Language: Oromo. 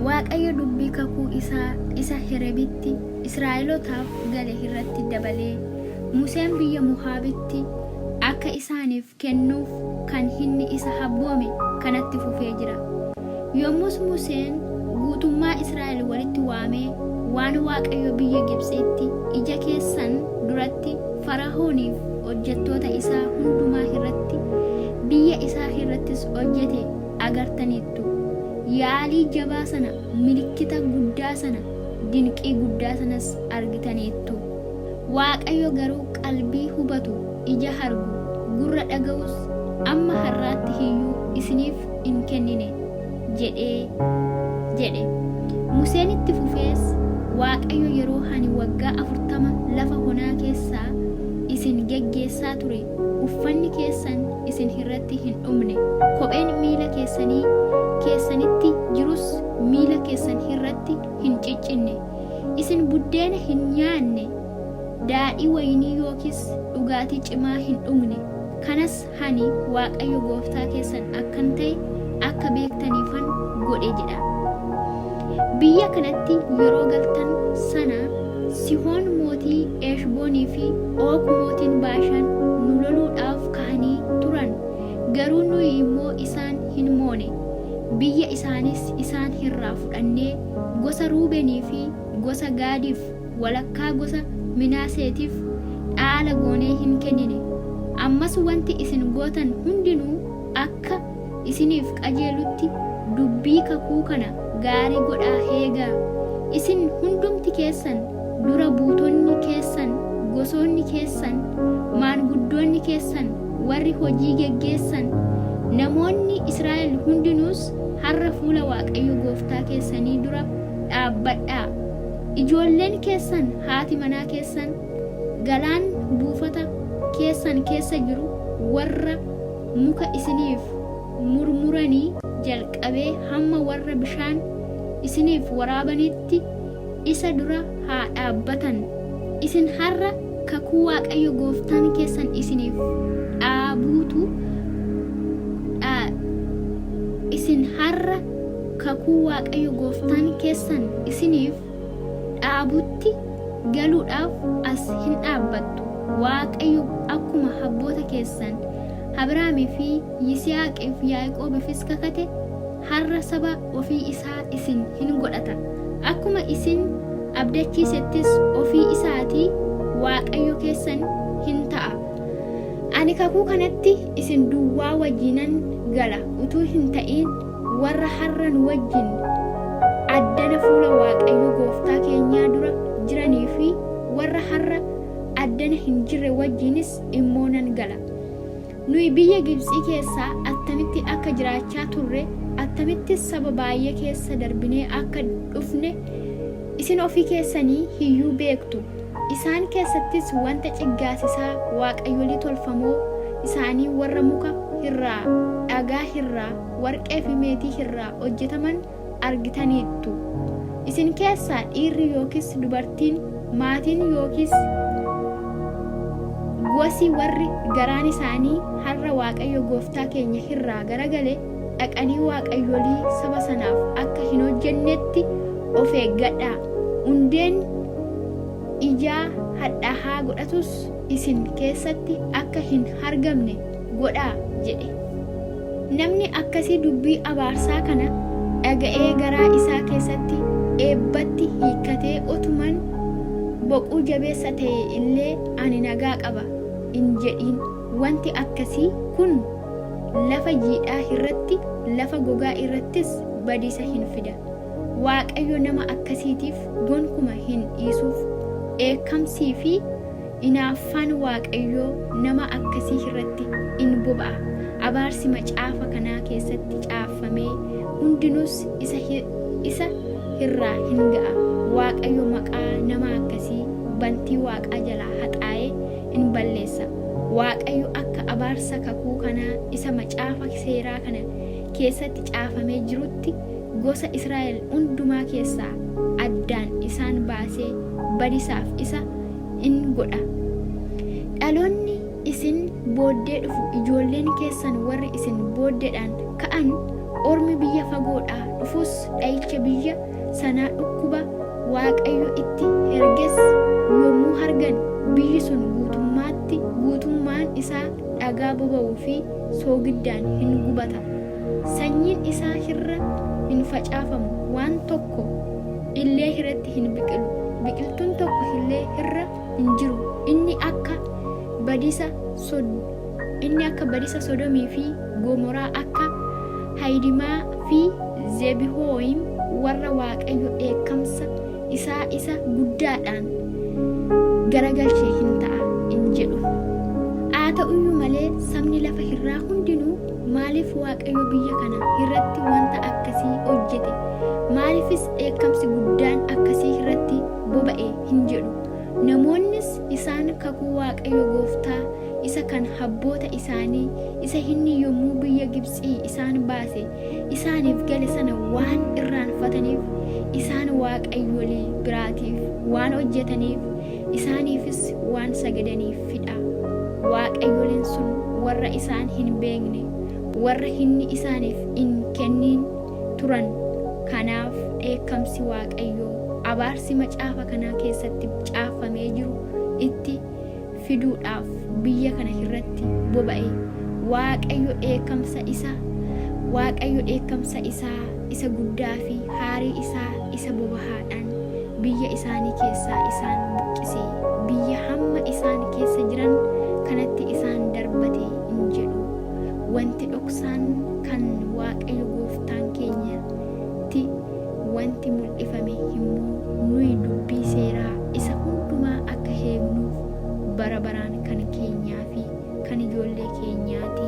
Waaqayyo dubbii kakuu isaa isa Herebitti Israa'elotaaf gale irratti dabalee, Museen biyya Mohaabitti akka isaaniif kennuuf kan inni isa habboome kanatti fufee jira. Yommus Museen guutummaa Israa'el walitti waamee waan Waaqayyo biyya Gibxiitti ija keessan duratti Fara'ooniif hojjettoota isaa hundumaa irratti, biyya isaa irrattis hojjete agartaniittu. Yaalii jabaa sana, milikkita guddaa sana, dinqii guddaa sanas argitaniittu. Waaqayyo garuu qalbii hubatu, ija argu, gurra dhaga'us amma har'aatti iyyuu isiniif hin kennine. jedhee jedhe museen itti fufees waaqayyo yeroo ani waggaa afurtama lafa honaa keessaa isin geggeessaa ture uffanni keessan isin irratti hin dhumne kopheen miila keessanii keessanitti jirus miila keessan irratti hin ciccinne isin buddeena hin nyaanne daadhii wayinii yookiis dhugaatii cimaa hin dhugne kanas Ani Waaqayyo gooftaa keessan akkan ta'e akka beektaniifan godhe jedha. Biyya kanatti yeroo galtan sana Sihoon mootii Eeshboonii fi Oog mootiin Baashaan nu loluudhaaf ka'anii turan. Garuu nuyi immoo isaan hin moone. Biyya isaanis isaan irraa fudhannee gosa Ruubenii fi gosa Gaadiif walakkaa gosa Minaaseetiif dhaala goonee hin kennine. Ammas wanti isin gootan hundinuu akka isiniif qajeelutti dubbii kakuu kana gaarii godhaa eegaa. Isin hundumti keessan, dura buutonni keessan, gosoonni keessan, maanguddoonni keessan, warri hojii geggeessan, namoonni Israa'el hundinuus har'a fuula Waaqayyo gooftaa keessanii dura dhaabbadhaa. Ijoolleen keessan, haati manaa keessan, galaan buufata keessan keessa jiru warra muka isiniif murmuranii jalqabee hamma warra bishaan isiniif waraabaniitti isa dura haa dhaabbatan. Isin har'a kakuu Waaqayyo gooftaan keessan isiniif dhaabuutu dha, isin har'a kakuu Waaqayyo gooftaan keessan isiniif dhaabutti galuudhaaf as hin dhaabbattu, Waaqayyo akkuma abboota keessan Abrahaamii fi Yisihaaqii fi Yaaqoobiifis kakate har'a saba ofii isaa isin hin godhata, akkuma isin abdachiisettis ofii isaatii Waaqayyo keessan hin ta'a. Ani kakuu kanatti isin duwwaa wajiinan gala utuu hin ta'iin warra har'a nu wajjin addana fuula Waaqayyo gooftaa keenyaa dura jiranii fi warra har'a addana hin jirre wajjiinis immoo nan gala. Nuyi biyya Gibtsii keessaa attamitti akka jiraachaa turre, attamittis saba baay'ee keessa darbinee akka dhufne isin ofii keessanii hiyyuu beektu. Isaan keessattis wanta ciggaasisaa waaqayyolii tolfamoo isaanii warra muka irraa, dhagaa irraa, warqee fi meetii irraa hojjetaman argitaniittu. Isin keessaa dhiirri yookiis dubartiin, maatiin yookiis gosi warri garaan isaanii har'a Waaqayyo gooftaa keenya irraa garagale, dhaqanii waaqayyolii saba sanaaf akka hin hojjennetti of eeggadhaa. Hundeen ijaa hadhaahaa godhatus isin keessatti akka hin argamne godhaa jedhe. Namni akkasii dubbii abaarsaa kana dhaga'ee garaa isaa keessatti eebbatti hiikkatee otuman boquu jabeessa ta'e illee ani nagaa qaba hin jedhiin. Wanti akkasii kun lafa jiidhaa irratti, lafa gogaa irrattis badiisa hin fida. Waaqayyo nama akkasiitiif gonkuma hin dhiisuuf. Dheekkamsii fi inaaffaan Waaqayyoo nama akkasii irratti in boba'a, abaarsi macaafa kanaa keessatti caaffamee hundinuus isa, isa irraa hin ga'a. Waaqayyo maqaa nama akkasii bantii waaqaa jalaa haxaa'ee in balleessa. Waaqayyo akka abaarsa kakuu kanaa isa macaafa seeraa kana keessatti caafamee jirutti gosa Israa'el hundumaa keessaa addaan isaan baasee badisaaf isa in godha. Dhaloonni isin booddee dhufu ijoolleen keessan warri isin booddeedhaan ka'an ormi biyya fagoodhaa dhufus dha'icha biyya sanaa dhukkuba Waaqayyo itti erges yommuu argan biyyi sun guutummaatti guutummaan isaa dhagaa boba'uu fi soogiddaan hin gubatama. Sanyiin isaa irra hin facaafamu, waan tokko illee irratti hin biqilu, biqiltuun tokko illee irra hin jiru. Inni akka badiisa Sod- inni akka badiisa Sodomii fi Gomoraa akka Hayidimaa fi Zebihooyim warra Waaqayyo dheekkamsa isaa isa guddaadhaan garagalche hin ta'a in jedhu. Haa ta'uyyuu malee sabni lafa irraa hundinuu maaliif Waaqayyo biyya kana irratti wanta akkasii hojjete? Maaliifis dheekkamsi guddaan akkasii irratti boba'e hin jedhu. Namoonnis isaan kakuu Waaqayyo gooftaa isa kan habboota isaanii, isa inni yommuu biyya Gibtsii isaan baase isaaniif gale sana waan irraanfataniif, isaan waaqayyolii biraatiif waan hojjetaniif, isaaniifis waan sagadaniifi dha. Waaqayyoliin sun warra isaan hin beekne, warra inni isaaniif hin kenniin turan. Kanaaf dheekkamsi Waaqayyoo, abaarsi macaafa kanaa keessatti caaffamee jiru itti fiduudhaaf biyya kana irratti boba'e. Waaqayyo dheekkamsa isa Waaqayyo dheekkamsa isaa isa guddaa fi haarii isaa isa bobahaadhaan biyya isaanii keessaa isaan buqqise, biyya hamma isaan keessa jiran kanatti isaan darbate in jedhu. Wanti dhoksaan kan Waaqayyo gooftaan keenya ti. Wanti mul'ifame immoo nuyi dubbii seeraa isa hundumaa akka eegnuuf bara baraan kan keenyaa fi kan ijoollee keenyaa ti.